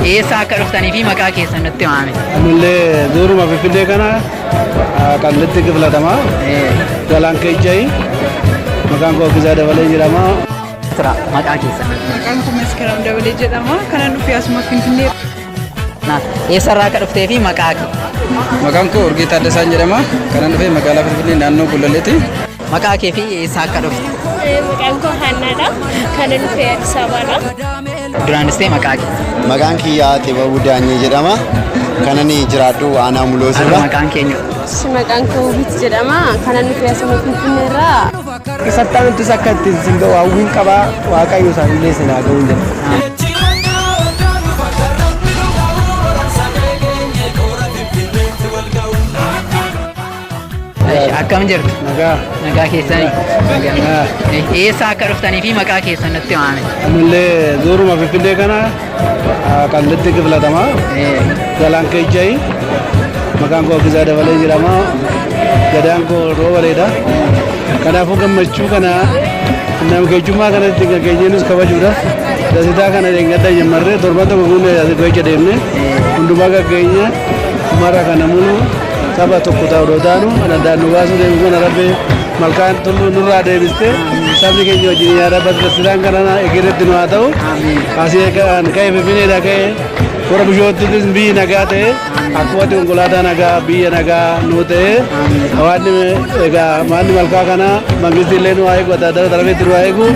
Eessaa akka dhuftanii fi maqaa keessan nutti himaame. Anillee duuruma Finfinnee kana qallitti kiflatama. Galaan keejjayi. Maqaan koo Abdisaa Dabalee jedhama. Tura maqaa keessan. Maqaan koo Maskiraam Dabalee jedhama. Kanan dhufe asuma Finfinnee. Eessarraa akka dhuftee fi maqaa kee. Maqaan koo Urgee Taaddasaan jedhama. Kanan dhufe magaalaa Finfinnee naannoo Gullalleeti. Maqaa kee fi eessaa akka dhufte? Maqaan koo Haannaadha. Kan inni dhufee Addis Ababaadha. Duraanis ta'e maqaa kee. Maqaan kiyyaa Xibabuu Daanyee jedhama. Kanan jiraadhu aanaa Muloo Har'a sirra. maqaan keenya. Maqaan koo Hubit jedhama. Kan inni dhufee asuma Finfinnee irraa. Isattaan ittis akka itti isin ga'u hawwiin qabaa waaqayyo isaanillee isin haa ga'uun jedha. Akkam jirtu? Nagaa. Nagaa keessanii? Nagaa. Eessa akka dhuftanii fi maqaa keessan natti waame? Ammallee zooruma Finfinnee kana qallitti kiflatama. Galaan keejjayi. Maqaan koo Abdisaa Dabalee jedhama. Gadaan koo Roobareedha. Kanaafuu gammachuu kana nam keejjummaa kanatti gageenyeenis kabajuudha. Dasitaa kana dheengadda jammarree torban tokko guunnee dasituu hojja deemne hundumaa gaggeenya mara kana muluu Saba tokko ta'u odoo taanu kan addaan nu baasuu deemu kana rabbi malkaan tulluu nurraa deebiste sabni keenya wajjin yaa rabbi ati tasiraan kana egeretti nu haa ta'u. Asii kan ka'e finfinneedha ka'e warra bishoottis biyyi nagaa ta'e akkuma ati konkolaataa nagaa biyya nagaa nu ta'e hawaasni egaa maanni malkaa kana mangisti illee nu haa eegu adda addaa darabeetti nu haa eegu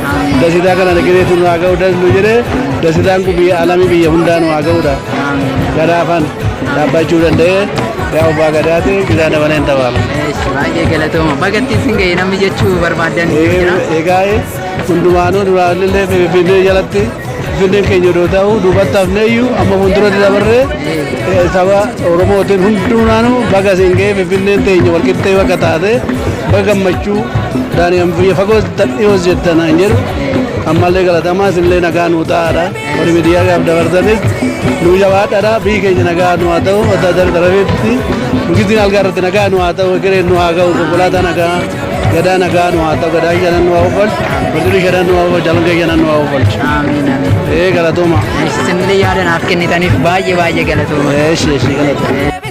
dasitaa kana egeretti nu haa ga'u das nu jedhe dasitaan kun biyya alamii biyya hundaa nu haa ga'udha. Gadaafan. Dhaabbachuu danda'ee yaa abbaa gadaati gidaa dabalee hin tabaala. Eesh, baay'ee galatooma. Bagatti isin ga'e namni jechuu barbaaddan ni jira. Egaa hundumaanuu duraallee Finfinnee jalatti Finfinneen keenya odoo ta'u duubatti hafneeyyuu amma fuulduratti dabarree eh, saba Oromootiin hundumaanuu baga isin ga'e Finfinneen teenya walqixxee bakka taate baga gammachuu daani'an biyya fagoo dhiyoo jettan hin jedhu ammallee galatamaa isinillee nagaa nuu ta'aadha. Warri miidiyaa gaaf dabarsanis nuu jabaadhadha biyyi keenya nagaa nu haa ta'u adda adda darabeetti mukittiin algaa irratti nagaa nu haa ta'u egereen nu haa ga'u konkolaataa nagaa gadaa nagaa nu haa ta'u gadaa shanan nu haa uffalchu barcirri shanan nu haa uffalchu alangee shanan nu haa uffalchu. Amiin amiin. Ee galatooma. Isinillee yaada naaf kennitaniif baay'ee baay'ee galatooma. Eeshi eeshi galatooma.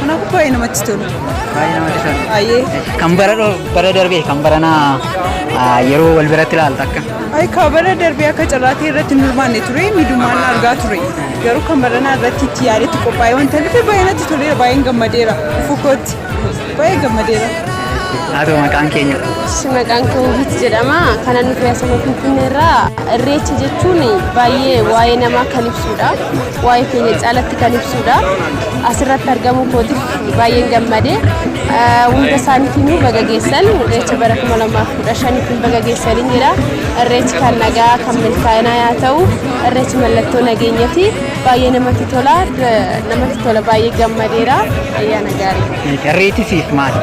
Kanaafuu baay'ee namatti tolu. Baay'ee namatti tola. Baay'ee. Kan bara dho- bara darbee kan barana ah, yeroo wal biratti ilaalta akka. Ay ka bara darbee akka carraatii irratti hin hirmaanne ture miidhumaan argaa ture. Garuu kan baranaa irratti itti yaadetti qophaa'ee wanta dhufe baay'ee natti toleera baay'een gammadeera. Fukootti baay'ee gammadeera. Haa ta'u maqaan keenya. Ishi maqaan koo Hubit jedhama. Kanan nuti asuma Finfinnee irraa irreecha jechuun baay'ee waa'ee namaa kan ibsudha. waa'ee keenya caalatti kan ibsuudha. Asirratti argamuu kootiif baay'een gammade. Hunda isaaniif immoo baga geessan irreecha bara 2015 ittiin baga geessaniin jira. Irreechi kan nagaa kan milkaa'inaa yaa ta'u irreechi mallattoo nageenyati baay'ee namatti tola namatti tola baay'ee gammadeera ayyaana gaarii. Irreechi siif maali?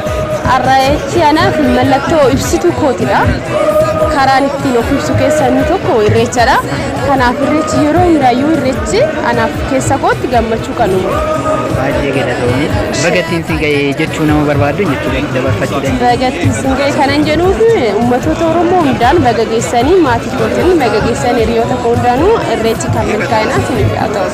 Irreechi anaaf mallattoo ibsituu kootidha. Karaan ittiin of ibsu keessaa inni tokko irreechadha. Kanaaf irreechi yeroo hiraayyuu irreechi anaaf keessa kootti gammachuu kan uumu. Baay'ee galatoomii. Bagattiin si ga'ee jechuu nama barbaaddu jechuudha dabarfachuu dandeenya. Bagattiin si ga'ee kanan jedhuuf uummattoota Oromoo hundaan baga geessanii maatii kootiin baga geessan hiriyoota koo hundaanuu irreechi kan milkaa'inaa isiniif haa ta'u.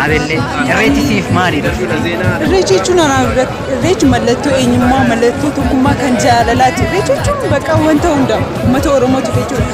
Abellee irreechi siif maali dursa? Irreechi jechuun anaaf irreechi mallattoo eenyummaa mallattoo tokkummaa kan jaalalaati. Irreechi jechuun bakka wanta hundaa uummata Oromootu jechuudha.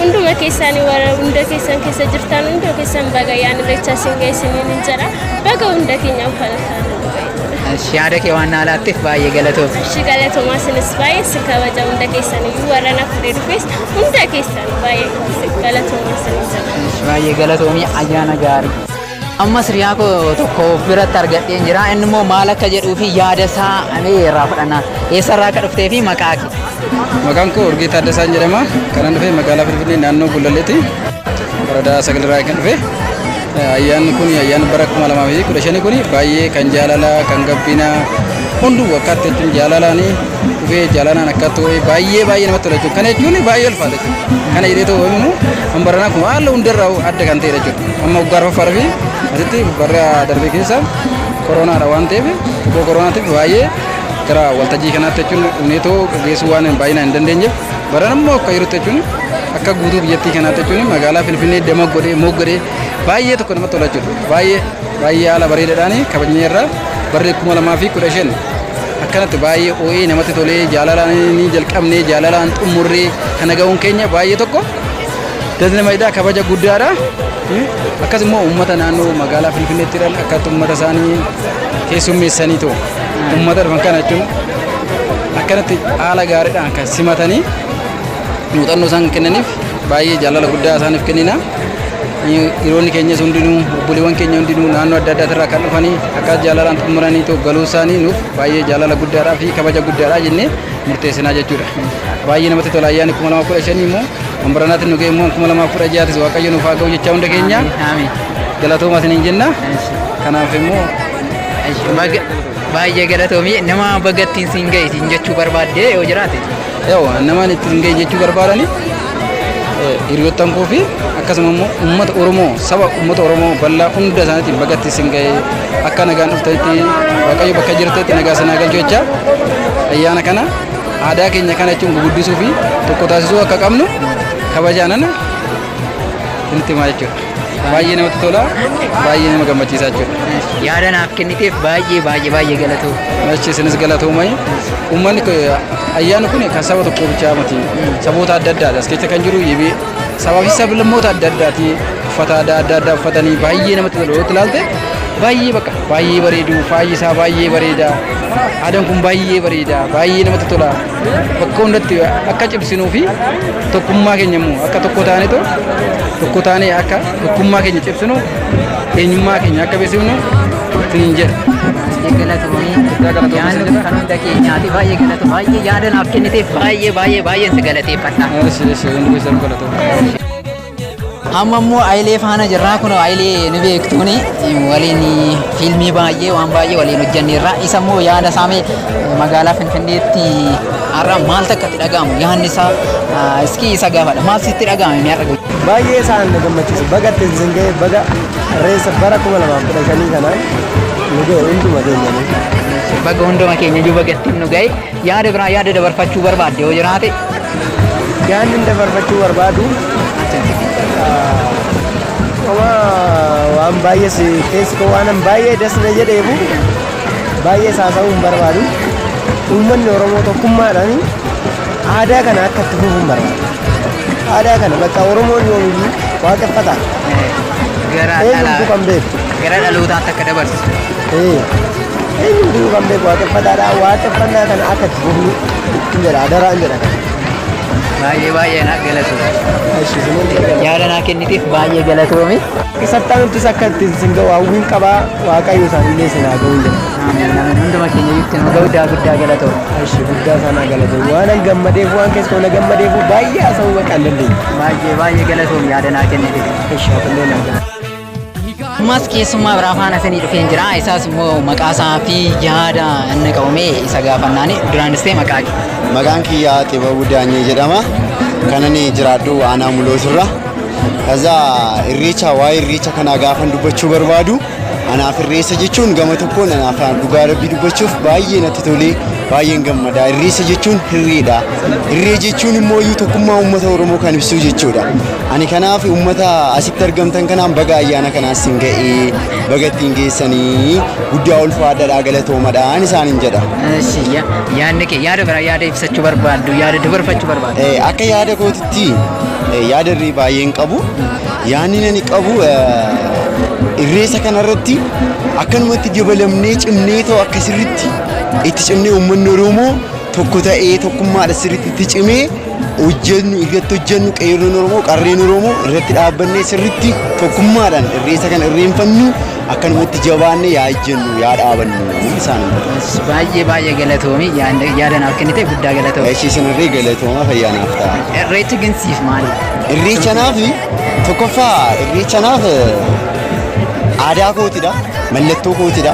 hunduma keessaanii warra hunda keessan keessa jirtan hunda keessan baga yaan irreechaa siin geessiniin hin jedha baga hunda keenyaaf kan Ashi, yaada kee waan naa laatteef baay'ee galatoomi. Ishii galatoomaa sinis baay'ee si kabaja hunda keessaniyyuu warra na fudhee dhufes hunda keessan baay'ee galatoomaa sinis jedha. Ashi, baay'ee galatoomi ayyaana gaarii. Ammas hiriyaa koo tokko of biratti argadheen jira. Inni immoo maal akka jedhuu fi yaada isaa mee irraa fudhanna. Eessarraa akka dhuftee fi maqaa kee. Maqaan koo Urgee Taaddasaan jedhama. Kanan dhufe magaalaa Finfinnee naannoo Gullalleeti. Waradaa sagalirraa kan dhufe. Ayyaanni kun ayyaanni bara 2015 kun baay'ee kan jaalala kan gabbina hunduu akkaatti jechuun jaalalaani dhufee jaalalaan akkaatti ho'ee baay'ee baay'ee namatti tola jechuudha. Kana jechuun baay'ee ulfaata jechuudha. Kana jedhee ta'uu immoo Kan baranaa kun haala hundarraa adda kan ta'edha jechuudha. Amma waggaa arfaffaa fi asitti barri darbee keessa koronaadha waan ta'eef tokko koronaatiif baay'ee gara waltajjii kanaatti jechuun dhumneetoo geessuu waan baay'inaan hin dandeenyeef baran ammoo akka yerootti jechuun akka guutuu biyyattii kanaatti jechuun magaalaa Finfinnee dama godhee moggodhee baay'ee tokko namatti tola jechuudha. Baay'ee baay'ee haala bareedaadhaan kabajnee irra barri kuma lamaa fi kudha shan akkanatti baay'ee oo'ee namatti tolee jaalalaan ni jalqabnee jaalalaan xumurree kana ga'uun keenya baay'ee tokko Dasni Mayidaa kabaja guddaadha. Akkas immoo uummata naannoo magaalaa Finfinneetti jiran akkatti uummata isaanii keessummeessanii ta'u. Uummata dhufan kana jechuun akkanatti haala gaariidhaan kan simatanii muuxannoo isaan kennaniif baay'ee jaalala guddaa isaaniif kennina. Dhiironni keenyas hundinuu obboleewwan keenya hundinuu naannoo adda addaa irraa kan dhufanii akka jaalalaan xumuranii ta'u galuu isaanii nuuf baay'ee jaalala guddaadhaa fi kabaja guddaadhaa jennee murteessinaa jechuudha. Baay'ee namatti tola ayyaanni kuma lama kudha shanii immoo kan baranaatiin nu ga'e immoo kuma lama kudha ja'aatis waaqayyo nuuf haa ga'u jechaa hunda keenya galatoomaa isiniin jenna. Kanaaf immoo Baay'ee galatoomii nama bagattiin siin ga'e siin jechuu barbaadde yoo jiraate. yoo namaan itti hin ga'e jechuu barbaadani hiriyoottan koo fi akkasuma immoo uummata Oromoo saba uummata Oromoo bal'aa hunda isaaniitiin bagattiin siin ga'e Akka nagaan dhuftanitti Waaqayyo bakka jirtanitti nagaa sanaa galchu jecha ayyaana kana aadaa keenya kana jechuun guguddisuu fi tokko taasisuu akka qabnu kabajaanan isinitti himaa jechuudha. Baay'ee namatti tola, baay'ee nama gammachiisaa jechuudha. Yaada naaf kenniteef baay'ee baay'ee baay'ee galatoomi. Achi isinis galatoomai. Uummanni ayyaanni kun kan saba tokkoo bichaa miti. Saboota adda addaadha. As keessa kan jiru sabaa fi sablammoota adda addaati uffata aadaa adda addaa uffatanii baay'ee namatti tolu yoo ilaalte baay'ee bakka baay'ee bareedu faayi isaa baay'ee bareeda aadaan kun baay'ee bareeda baay'ee namatti tola bakka hundatti akka cimsinuu fi tokkummaa keenya immoo akka tokko taane too tokko taane akka tokkummaa keenya cimsinu eenyummaa keenya akka beeksifnu siin jedha. Baay'ee galatoomii. Guddaa galatoomii Yaanni siin jedha. kan hunda keenyaati. Baay'ee galatoomii. Baay'ee yaada naaf kenniteef baay'ee baay'ee baay'een si galateeffadha. Eesh eesh hundi keessan galatooma. Amma immoo Ayilee faana jirraa kun Ayilee ni beektuuni waliin fiilmii baay'ee waan baay'ee waliin hojjanneerra. Isa immoo yaada saamee magaalaa Finfinneetti har'a maal takka itti dhaga'amu yaadni isaa ah, iskii isa gaafadha. Maal sitti dhaga'ame mi'a dhaga'u? Baay'ee isaan na gammachiisa. Baga itti isin ga'e baga Irreessa bara 2015 kanaan nu ga'e hunduma keenyanii. Baga hunduma keenya iyyuu baga ittiin nu ga'e. Yaada biraa yaada dabarfachuu barbaadde yoo jiraate. Yaadni inni dabarfachuu barbaadu qoma waan baay'ee si keessi koo waanan baay'ee das na jedheefu baay'ee saasa'uu hin barbaadu. Uummanni Oromoo tokkummaadhaan aadaa kana akka itti fufuun barbaada. Aadaa kana bakka Oromoon yoomiyyuu waaqeffata. Gara Eenyutu kan beeku? gara dhalootaatti akka dabarsu. Ee, eenyutu kan beeku waaqeffataadha. Waaqeffannaa kana akka itti fufnu hin jedha. Adaraa hin jedha. Baay'ee baay'ee na galatoomi. Ishi isiniin eegala. Yaada naa kenniteef baay'ee galatoomi. Sattaanuttis akka itti isin ga'u hawwiin qabaa waaqayyo isaanillee isin haa ga'u hin jedha. Aamiin aamiin hunduma keenya itti nu ga'u daa guddaa galatoo. Ashi guddaa isaanaa galate waanan gammadeef waan keessa na gammadeef baay'ee haasa'uu bakka hin dandeenye. Baay'ee baay'ee galatoom yaada naa kennite. Ashi hafallee naa galate. Ammas keessummaa biraa faana isinii dhufeen jira. Isaas immoo maqaa isaa fi yaada inni qabame isa gaafannaani duraanis ta'e maqaa kee. Maqaan kiyyaa Xibabuu Daanyee jedhama. Kanan jiraadhu aanaa mulootirra. Kaza irreecha waa'ee irreecha kanaa gaafan dubbachuu barbaadu. Anaaf irreessa jechuun gama tokkoon anaaf dhugaa rabbii dubbachuuf baay'ee natti tolee baay'een gammada. Irreessa jechuun hirreedha. Hirree jechuun immoo iyyuu tokkummaa uummata Oromoo kan ibsuu jechuudha. Ani kanaaf uummata asitti argamtan kanaan baga ayyaana kanaan siin ga'ee baga ittiin geessanii guddaa ulfaadhaadhaa galatoomadhaan isaaniin jedha. Eshi, ya- Yaadni kee yaada biraa yaada ibsachuu barbaaddu yaada dabarfachuu barbaaddu. Eh, Akka yaada kootitti eh, yaada irree baay'een qabu. Yaanni ani qabu irreessa kanarratti akkanumatti dabalamnee cimnee ta'u akka sirritti itti cimnee uummanni Oromoo tokko ta'ee tokkummaadha sirritti itti cimee hojjennu irratti hojjennu qeerroon Oromoo qarreen Oromoo irratti dhaabbannee sirritti tokkummaadhaan irreessa kana irreenfannu Akkanumatti jabaanne yaa ejjennu yaa dhaabannu isaan Baay'ee baay'ee galatoomi yaada naaf kennite guddaa galatoomi. Eshi isinirree galatooma fayyaa naaf ta'a. Irreechi gin siif maali? Irreecha naaf tokkoffaa irreecha naaf aadaa kootidha mallattoo kootidha.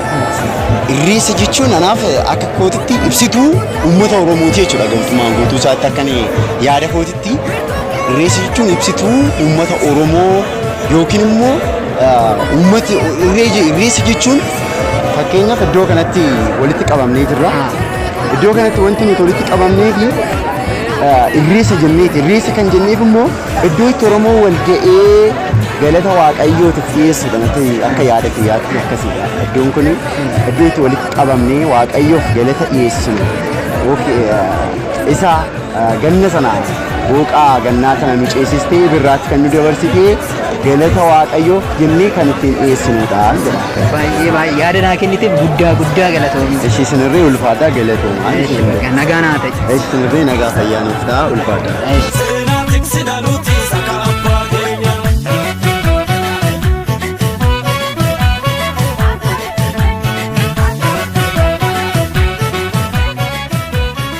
Irreecha jechuun anaaf akka kootitti ibsituu uummata Oromooti jechuudha gamtumaan guutuu isaatti akka yaada kootitti. Irreecha jechuun ibsituu uummata Oromoo yookiin immoo uummati irreessa jechuun fakkeenyaaf iddoo kanatti walitti qabamnee jirra. Iddoo kanatti wanti nuti walitti qabamnee fi irreessa jenneeti. Irreessa kan jenneef immoo iddoo itti Oromoo wal ga'ee galata waaqayyootiif dhiyeessuudha natti akka yaada kiyyaatti akkasiidha. Iddoon kun iddoo itti walitti qabamnee waaqayyoof galata dhiyeessinu. Isa Ganna sana booqaa gannaa sana nu ceesistee birraatti kan nu dabarsitee galata waaqayyoof jennee kan ittiin dhiyeessinudha jedha. Baay'ee baay'ee yaada naa kenniteef guddaa guddaa galatoomi. Ishii sinirree ulfaataa galatoomaa. Eesh, baga nagaa naa ta'i. Ishii sinirree nagaa fayyaa nuuf ta'a ulfaataa. Eesh. Seenaa tiksina nuti saka abbaa keenya.